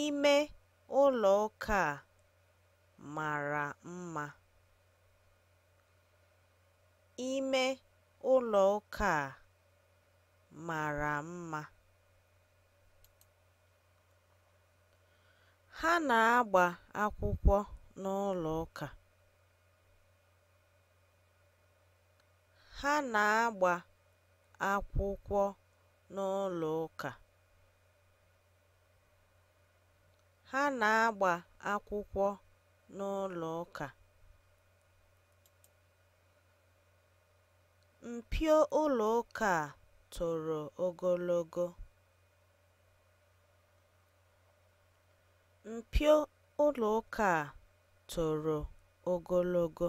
Ime ụlọ ụka a mara mma. Ime ụlọ ụka a mara mma. Ha na-agba akwụkwọ n'ụlọ ụka. Ha na-agba akwụkwọ n'ụlọ ụka. Ha na-agba akwụkwọ n'ụlọ ụka. Mpio ụlọ ụka a toro ogologo. Mpio ụlọ ụka a toro ogologo.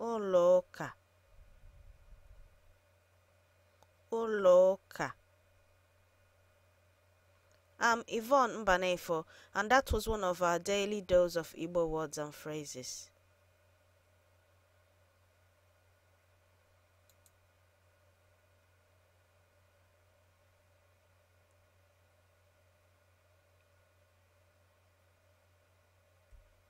ụlọụka ụlọụka I'm Yvonne Mbanefo, and that was one of our daily dose of Igbo words and phrases.